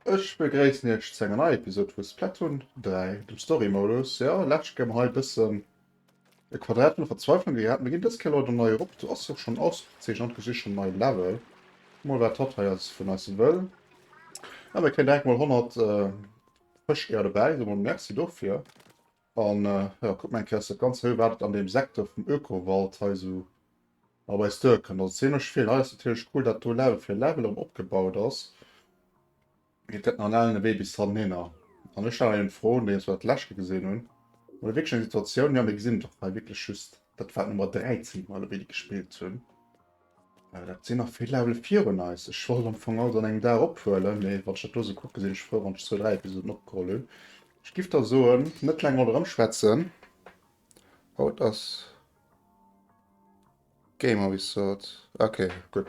Ech begréissen iech zu enger neier Episode vu Splatoon 3, dem Story Modus. Jo, lech gi mer hei e bëssen E Quadrat vun der Verzweiflung gehat. Mir ginn dës Kéier leider nei erop. Du ass och schonn ausgezeechent an du gesichs schonn nei Level. Kuck mol wat hatt hei eis vun eis wëll. Ah, mir kréien direkt mol 100 Fëscheier dobäi. Soe mol Merci dofir. An jo, kuck mol eng Kéier aus der ganzer Höhe wat et an deem Secteur vum Ökowald hei esou op eis duerkënnt. Also zimlech vill. Hei ass natierlech cool dat do Level fir Level erëm opgebaut ass. Et gëtt nach en alen Ewee bis hanhinner. An ech hat eng Fro, déi ech dat leschte gesinn hunn, Mir hu wierklech eng Situatioun, jo, mir gesinn et och hei, wierklech just, dat war d'Nummer 13, déi mer elo gespillt hunn. Dat sinn nach vill Levele virun eis. Ech wollt am Fong alles an engem Dag ophuelen, mee wann ech dat do esou kucken, sinn ech frou, wann ech zwou, dräi Episoden opgeholl hunn. Ech giff da soen, net laang ouni erëmschwätzen, haut ass Gamer wéi sot. Ok, gutt.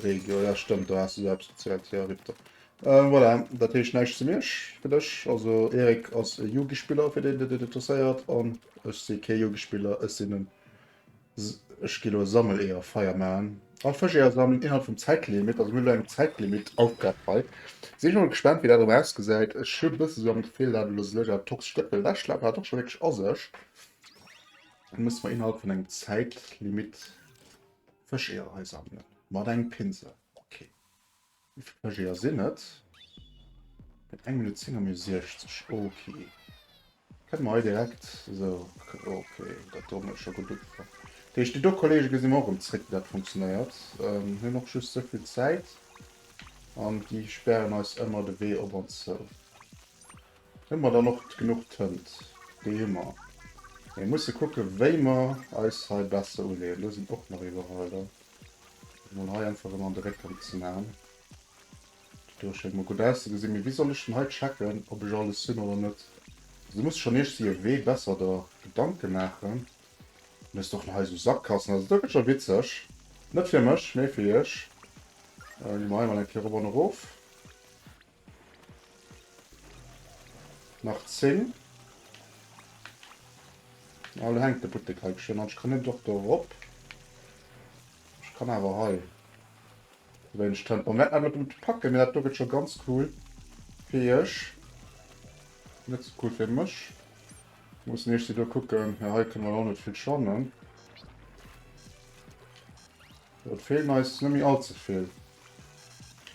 Regio, jo stëmmt, do has de se absozielt, jo rip der. Voilà, dat heescht näischt zu Miersch fir dech. Also Erik ass e Yugi-Spiller, fir deen, deen et interesséiert, an ech si kee Yugi-Spiller, ech sinn en, ech gi elo e Sammeleeër Feier maachen. All Fëscheeër sammelen innerhalb vum Zäitlimit, also mir hunn elo eng Zäitlimit-Aufgab hei. Sinn ech mol gespaant, wéi dat erëm ausgesäit. Ech hu bëssen esou am Gefill, dat elo sech dat toxescht Dëppel ewechschleppen hat och scho wierklech a sech. Dann muss man innerhalb von engem Zeitlimit Fëscheeër einsammeln. Mat engem Pinsel. Okay. Wie viele Fëscheeër sind et? Mit 1 Minute 10 haben wir 60. Okay. Können wir direkt. So, okay. Das tut mir schon gut. Die ersten do Kollegen gesehen wir auch im Trick, wie das funktioniert. Ähm, wir haben auch just so viel Zeit. Und die sperren uns immer den Weg ob und zu. Hunn mer dann och genuch Tënt? Déi hu mer. Mir musse kucke wéi mer eis hei besser uleeën. Do sinn och nach Iwwerreider. Fir mol hei einfach ëmmer de Réck rëm ze man. Déi do schéngt mol gutt auszegesinn. Mee wéi soll ech denn hei checken ob ech alles hunn oder net? Also do musst schonn iech si ewee besser der Gedanke maachen. An hues och nach hei sou Sakkassen. Also do gëtt scho witzeg. Net fir mech mee fir iech. Gi mer hei mol eng Kéier erop an erof. Nach 10. Ah, da hängt de Buttek hei geschwind an. Ich kann net doch do erop. Ich kann awer hei. Wenn ich Tempo net net net packen, mir dat do gëtt schon ganz cool fir iech. Net so cool fir mech. Muss nicht si do kucken. Ja, hei können wir och net vill schannen. Et feelen eis net méi all ze vill.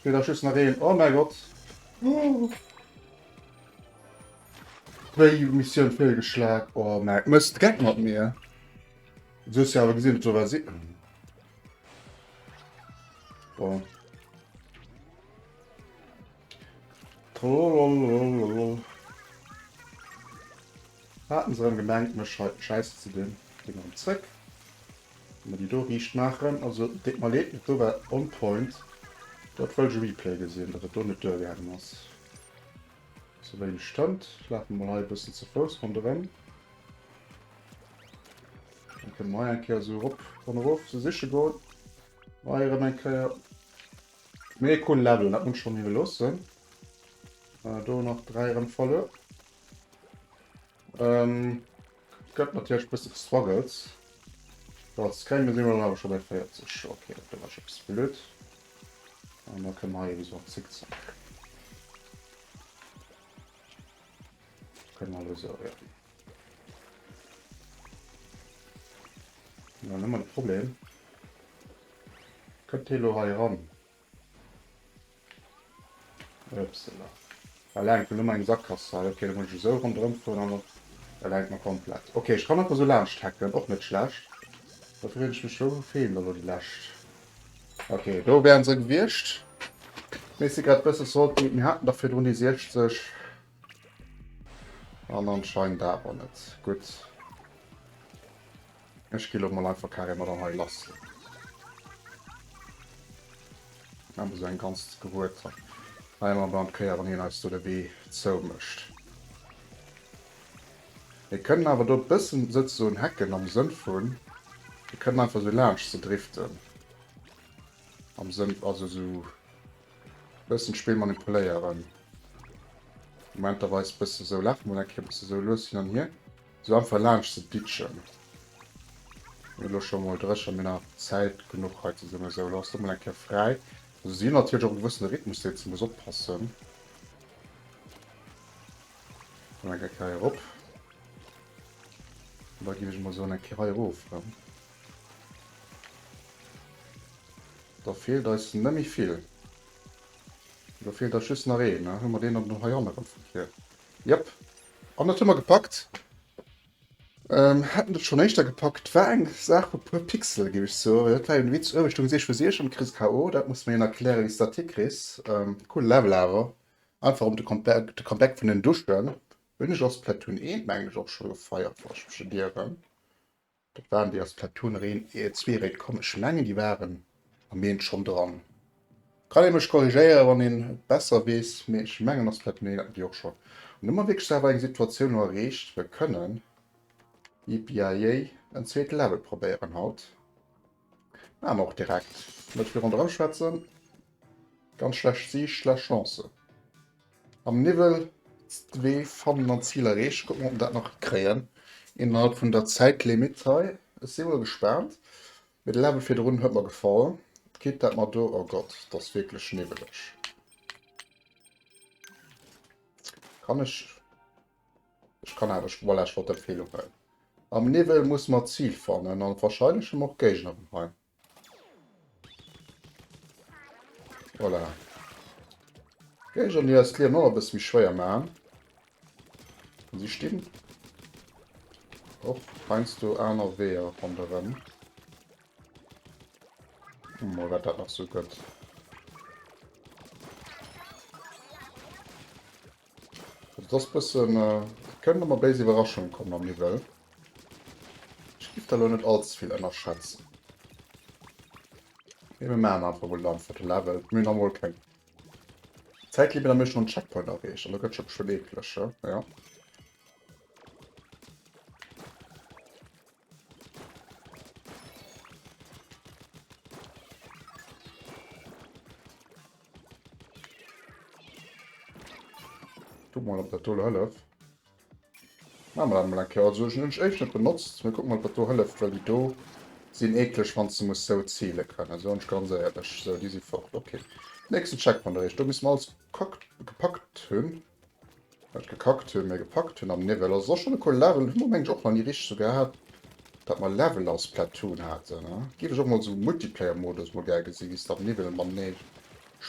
Feelt eis just nach een. Oh mäi Gott! Wéi Missioun feelgeschlag. Oh mäi Mësst, geck mat mir! Du hues jo awer gesinn, et war si. Bon. Trololololol. Haten se erëm gemengt, mech hei schäissen ze dinn. Ginn erëm zréck. Mä déi do riicht maachen, also deet mer Leed, mä do war on point. Do hat wëllt ech e Replay gesinn, datt et do net duergaangen ass. Sou wéi en stëmmt, lafe mer mol hei e bëssen ze Fouss ronderëm. Dann kënne mer hei eng Kéier esou erop an erof se siche goen. Mä hei erëm eng Kéier méi e coolen Level, dat muss ech schonn iwweloossen. Do nach dräi erëm verluer. Ähm, gëtt natierlech bësse gestruggelt. Als Krämer si mer awer scho bei 40. Okay, dat war scho bis blöd. An da kënne mer hei wieso am Zickzack. Kënne mer lo so, ja. Ja, nëmmer de Problem. Kënnt hie lo hei ran? Upsala. Well enk mir lo meng Sakkass hei. Ok, da muss ech esou ronderëm fueren an op. Well enk mer komplett. Ok, ech kann einfach esou laanscht hacken. Och net schlecht. Da freeën ech mech. Wou feelt elo déi lescht? Ok, do wären se gewiescht. Mee si grad bësse salty. Mir haten der virdrun déi 60. An anscheinend awer net. Gutt. Ech gi lo mol einfach carrément mat an hei lassen. Awer esou eng ganz Gerueter. Ah, ëmmer beim d'Kéier, wann hien eis do de Wee zou mécht. Mir kënnen awer do bëssen souzesoen hacken am Sënn vun, mir kënnen einfach esou laanscht se driften. Am Sënn, also esou Bëssen d'Spill manipuléieren. Momenterweis bëssen esou laafen, mol eng Kéier bëssen esou lues hin an hier. Esou einfach laanscht ze ditchen. Mir elo scho mol dréch an mir nach Zäit genuch hei zesummen. Esou elo ass do mol eng Kéier fräi. Also si hunn natierlech och e gewëssene Rhythmus deen ze muss oppassen. Mol eng Kéier hei erop. Da ginn ech mol soen eng Kéier hei erof. Da feelt eis net méi vill. Do feelt eis just nach een. Hu mer deen dann hei hanne ran vu vir? Jep. An dat hu mer gepackt. Ähm, hätten dat schonn éischter gepackt. War eng Saach vu puer Pixel, géif ech soen. Dat war jo de Witz, uewe stoung Sicht vu Sicht an du kriss KO. Dat muss mer een erklären, wéi s de dat hikriss. Coole Level awer. Einfach ëm de Comeback, de Comeback vun den Duschen. Hunn ech a Splatoon 1, mengen ech, och scho gefeiert, wa ech mech net ieren. Dat waren déi ass Platoon nach een zwee Réit komm ech mengen déi waren am Meen schonn dran. Kann ee mech korrigéiere wann een et besser weess mee ech mengen ass Platoon een haten déi och schonn an hu mer wierklech awer eng Situatioun lo erreecht wou kënnen, yippieeyeey, en zweete Level probéieren haut. Maan mer och direkt. Net virun dran schwätzen. Ganz schlecht Siicht, schlecht Chancen. Am Niwwel d'Wee fannen an d'Zil erreechen. Kucken ob mer dat nach hikréien innerhalb vun der Zäitlimitt hei. Ech si wuel gespaant, mee de Level virdrun huet mer gefall. D'Kipp dat mer do, oh Gott, et ass wierklech niwweleg. Kann ech. Ech kann awer, voilà, ech wollt dat Feel uhuelen. Am Niwwel musse mer d'Zil fannen a wahrscheinlech hu mer och d'Géigner erëm hei. Voilà. D'Géigner, déi eis d'Liewen och e bësse méi schwéier maachen. An si stinn och heiansdo aner Weeër ronderëm. Hu mer, wat dat nach sou gëtt. Et ass bëssen, et kënnt ëmmer béis Iwwerraschung kommen am Niwwel. Ech géif der elo net all ze vill ënnerschätzen. Mee mir maachen einfach emol dann fir de Level. Mir hunn amol keng Zäitlimit a mir hu schonn en Checkpoint erreecht. An da gëtt et scho beschwéit eeklech, jo, jo. Guck mal, ob das tolle Höllef. Machen wir das mal ein Kehr. Also, ich habe es echt nicht benutzt. Wir gucken mal, ob das tolle Höllef, weil die do sind eklig, wenn du musst so zählen können. So, und ganz ehrlich, so, die sind fort. Okay. Nächsten Checkpoint erreicht. Da müssen wir alles gepackt, gepackt haben. Wat gekackt hun mee gepackt hun am Niwwel ass och schon e coole Level. Hun mer mengen ech och nach nie richteg sou gehaat dat mer Level a Splatoon haaten. Giff ech och mol sou Multiplayer Modus mol gär gesin wéis de am Niwwel matenee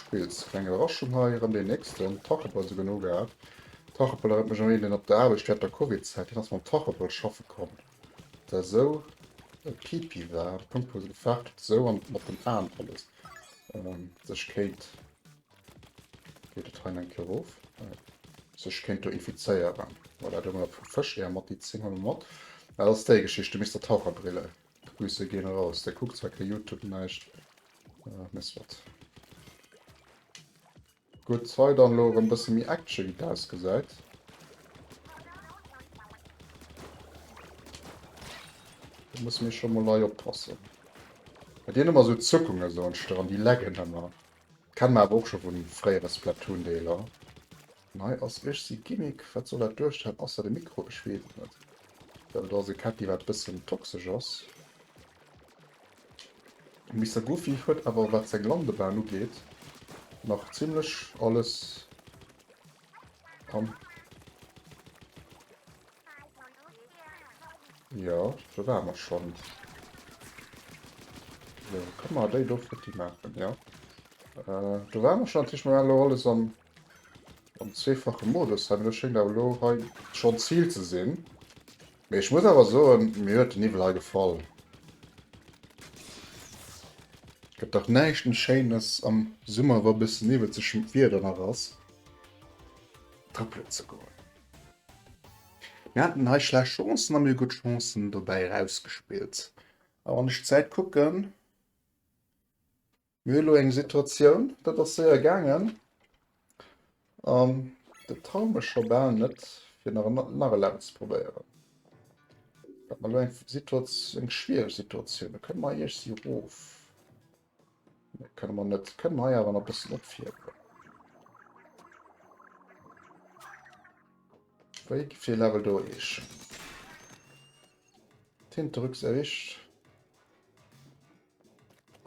spills. Kleng Iwwerraschung hei rem deen nächsten. Tachepel souguer no gehaat. Tachepel erënnert mech un een deen op der Aarbecht während der Covid Zäit deen ass mam Tachepel schaffe komm der sou e Pipi war an de Punkt wou se gefaart huet sou an mat den Aan alles sech kéint Geet et hei eng Kéier of? Nee. Sech kéint do infizéieren. Voilà, do hunn mer vu Fësch är mat, déi zéngen mer mat. Dat ass déi Geschicht, du misst der Taucherbrille. Grüße gehen raus. Där kuckt zwar kee Youtube, näischt, mä soit. Gutt, hei dann elo erëm e bësse méi Action, wéi et ausgesäit. Do musse mir scho mol hei oppassen. Bei deenen ëmmer esou Zuckungen esou entstoen, déi laggen ëmmer. Kennen mer awer och scho vun fréiere Splatoon Deeler. An hei ass iech si Gimmick. Wat soll dat duerstellen ausser de Mikro? Ech wees et net. Ech glaube do ass e Käppi wat bessen toxesch ass. Mister Goofy huet awer wat seng Landebahn ugeet nach zimlech alles. Komm. Ja, do war mer schon. So, komm mal, déi do futti machen, ja. Äh, do war mer schon, tisch mal lo alles am, am zweefache Modus, haben wir schenkt aber lo hei schon Ziel zu sehen. Mee ech muss awer soen, mir huet de Niwwel hei gefall. Gëtt dach näischt méi Schéines am Summer, wa bëssen Niwwel zeschent Wieder nach ass, trëppelen ze goen. Mir haten hei schlecht Chancen a mir hu gutt Chancen dobäi erausgespillt. A wann ech d'Zäit kucken. Mir hunn elo eng Situatioun, dat ass séier gaangen an dat traue mech scho bal net fir nach en nach e Level ze probéieren. Wat ass elo eng Situat eng schwiereg Situatioun. Da kënne mer iech si erof. Nee kënne mer net. Kënne mer hei awer nach e bëssen opfierwen. Wéi fir ee Level do eech? D'Hinterrücks erwischt.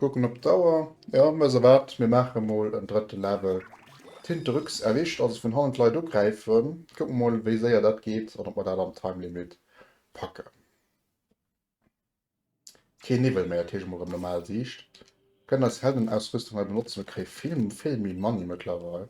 Kucken op d'Auer, jo weess der wat, mir maache emol en drëtte Level Tinterux erwischt, also vun hannen d'Leit ugräifen. Kucken mer mol wéi séier dat geet an ob mer dat am Timelimit packen. Keen Niwwel méi, dat heescht emol rëm normal Siicht. Kënnen eis Heldenausrüstung hei benotzen, ok vill vill méi Money mëttlerweil.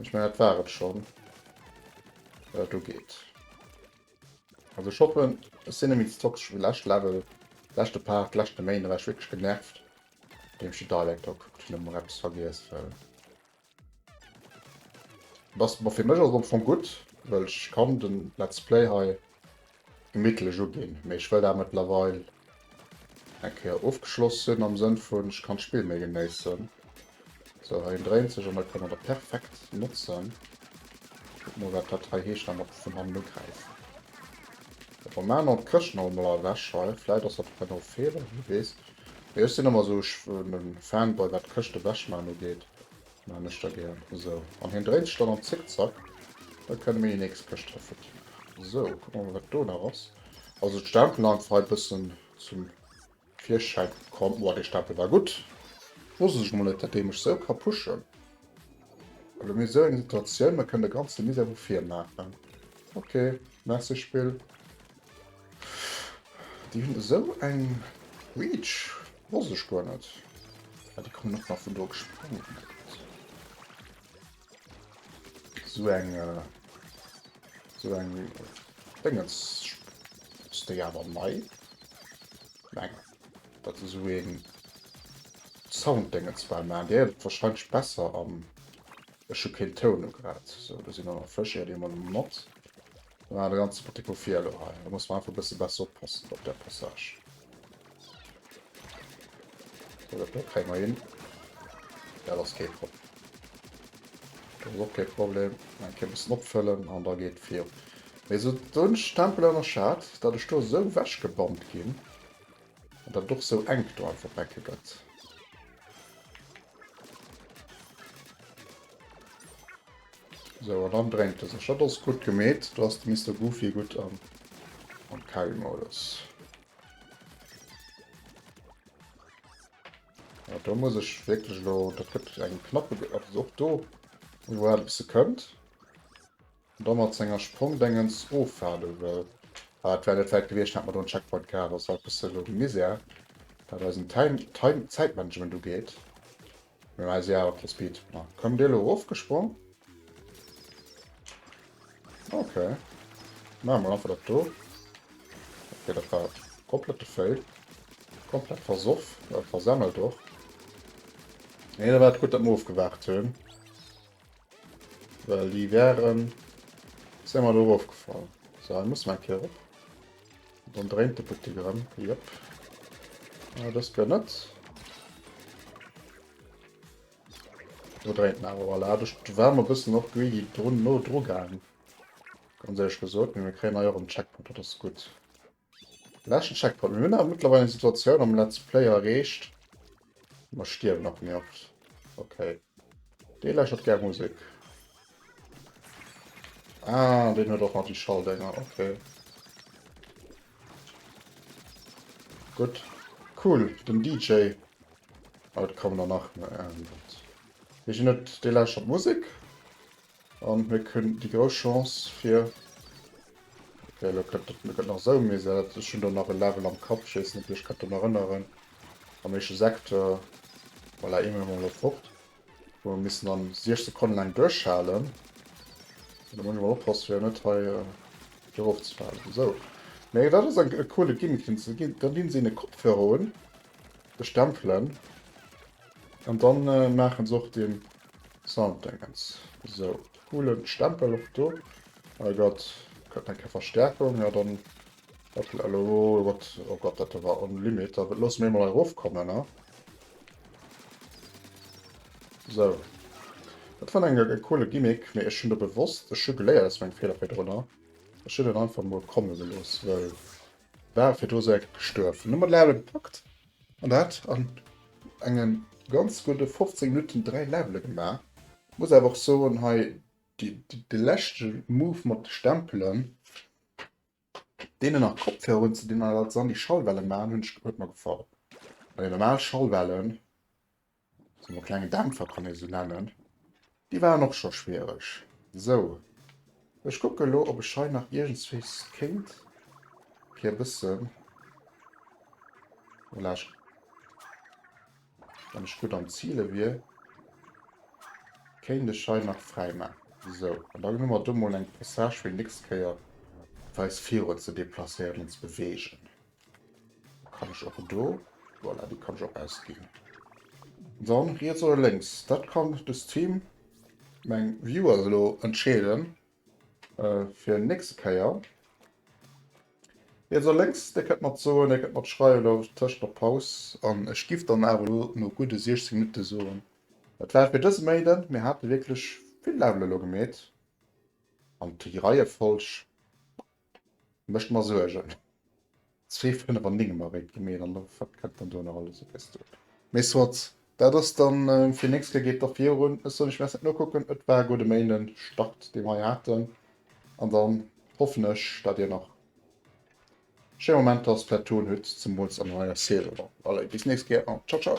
Ech mengen dat war et schonn. Äh, do geet. Also ech hoffen, ech sinn net méi ze toxesch wéi lescht Level, leschte Part, d'leschte Méint, da war ech wierklech genervt, deem ech de Dialect da gekuckt hunn, emol eppes vergiess, well dass, bon, fir mech ass et am Fong gutt, well ech kann de Let's Play hei. gemittlech uginn, mee ech wëll dat mëttlerweil eng Kéier ofgeschloss hunn am Sënn vun ech kann d'Spill méi genéissen. Sou, hei en dréint sech an da kënnt der der perfekt notzen. Kuckt mol wat dat hei heescht, da mat vun hannen ugräifen. Op der Main an d'Këscht nach emol ewech hei, vläit ass dat och en no Feeler, wie weess. Mee ech sinn ëmmer sou, ech en Fanboy wat d'Këscht ewechmachen ugeet, Maan ech da gär esou. An hien dréit sech dann am Zickzack, da kënne mir déi nächst Këscht hëffen. Esou, kucke mer wat do nach ass. Also d'Stempelen einfach hei bëssen zum Virschäin komm. Oua, dee Stempel war gutt. Wosst ech mol net dat dee mech esou ka pushen. Elo hu mir esou eng Situatioun, mer kënnen de ganze Misär vu vir maachen. Ok, merci Spill. Déi hunn esou eng Reach, wosst ech guer net. Ah déi kommen och nach vun do gesprongen. Esou eng esou eng Déngens ass déi awer nei? Mengen dat esou een Sounddéngens war. Mä déi ass wahrscheinlech besser an ech hu keen Toun ugrat. Sou do sinn awer Fësch, ier déi emol mat. Ah, de ganze Poté gouf vir elo hei. Da muss mer einfach e bësse besser oppassen op där Passage. So, dat do kréie mer hin. Dat ass kee Problem. Dat ass och kee Problem. Eng Kéier e bëssen opfëllen an da geet et vir. Mee esou hunn ech d'Tempel ënnerschat, datt ech do esou ewechgebombt ginn an datt et och esou enk do einfach becke gëtt. So, an dann drängt es. Dat ass gutt gemeet. Do ass de Mister Goofy gutt am am Carry-Modus. Ja, do muss ech wirklich lo. Dat gëtt eng knappe Ge och do, wo er e bësse kënnt. da mat senger Sprongdengens ofwaarde wëll. Ah, et wär net wäit gewiescht, hätt mer do en Checkpoint gehat. Ass halt e bësse elo de Misär, wat eisen Time, Time, Zäitmanagement ugeet. Mir hunn eise Jahre fir Speed. Ma komm dir elo erofgesprong? Ok. Maache mer einfach dat do. Ok, dat war komplette Fail. Komplett versoff, äh, versemmelt och. Nee, da war et gutt, datt mer ofgewaart hunn. Well déi wären se emmer do erof gefall. So hei muss mer eng Kéier op. Dann dréint de Putti erëm. Jop. Ah, dës Kéier net. Do dréint en awer voilà. Duerch war mer e bëssen och greedy drun no dru gaangen. Ganz éierlech gesot. Mee mir kréien hei och en Checkpoint, dat ass gutt. Leschten Checkpoint. Mir hunn awer mëttlerweil eng Situatioun am Let's Play erreecht, wou mer stierwen nach méi oft. Okay. Dee lächert gär Musek. Ah, deen huet och nach déi Schalldénger. Okay. Gutt. Cool, den DJ. Haut kommen der nach. Dee lächert Musek. An mir hunn déi grouss Chance fir, okay elo gëtt et gëtt nach esou mies, jo dat ech hunn do nach e Level am Kapp, ech weess net wéi ech konnte mer erënneren am éischte Secteur, voilà ee Moment elo fort, wou mer missen dann 6 Sekonne laang duerchhalen an da muss ech emol oppasse fir net hei do erof ze falen, esou mee dat ass e coole Gimmick deen se ginn, dann dinn se een e Kopfhörer un, bestempelen an dann maachen se och den. Sounddëngens. Esou, coolen Stempel och do. Oh Gott, kritt eng Kéier Verstärkung. Ja dann, wat gëtt elo, oh Gott, oh Gott, dat do war on limit. Da loosse mir emol hei erofkommen, ne? Esou. Dat war eng, e coole Gimmick, mee ech hunn do bewosst, ech hu geléiert aus mengem Feeler virdrunner, ech hunn en einfach mol komme gelooss, well war virdru esou eng gestuerwen. Hu mer d'Levelen gepackt? An dat an engen ganz gudde 15 Minutten 3 Levele gemaach. Muss awer och soen hei de leschte Move mat de Stempelen deenen nach Kopfhörer un ze dinn an dat dann déi Schallwellen maachen huet mer gefall. Bei den normal Schallwellen Sou e klenge Dämpfer kann ee se nennen. Déi waren och scho schwiereg. Sou, ech kucke lo, ob ech hei nach iergendswéis kéint fir e bëssen, voilà, wann ech gutt am Zile wier, kéint ech hei nach fräi maachen. Sou, an dann hu mer do mol eng Passage fir déi nächst Kéier, fir eis virun ze deplacéieren an ze beweegen. Kann ich auch do. Voilà, die kann ich auch ausgehen. Dann rechts oder links. Das kann das Team, mein Viewer, so entscheiden. Äh, für den nächsten Keier. Jetzt links, der könnt man so, der könnt man schreiben, da Tisch der Pause. Und ich gebe dann aber nur gute 60 Minuten so. Das war für das Maiden. Wir hatten wirklich viel Level gemäht. Und die Reihenfolge Mécht mer Suergen. Zwee Fënnef an Néngem erwéint gi mir. An wat kënnt dann do nach alles op eis zou? Mee soit, dat ass da fir nächst Kéier. Geet da virun. Ech soen, ech wäert net nokucken. Et war e gudde Méinden Start, dee mer hei haten. An dann hoffen ech, dat dir nach schéi Momenter als Platoon hutt, zemools an der neier Saison. Allez, bis nächst Kéier an tschau tschau!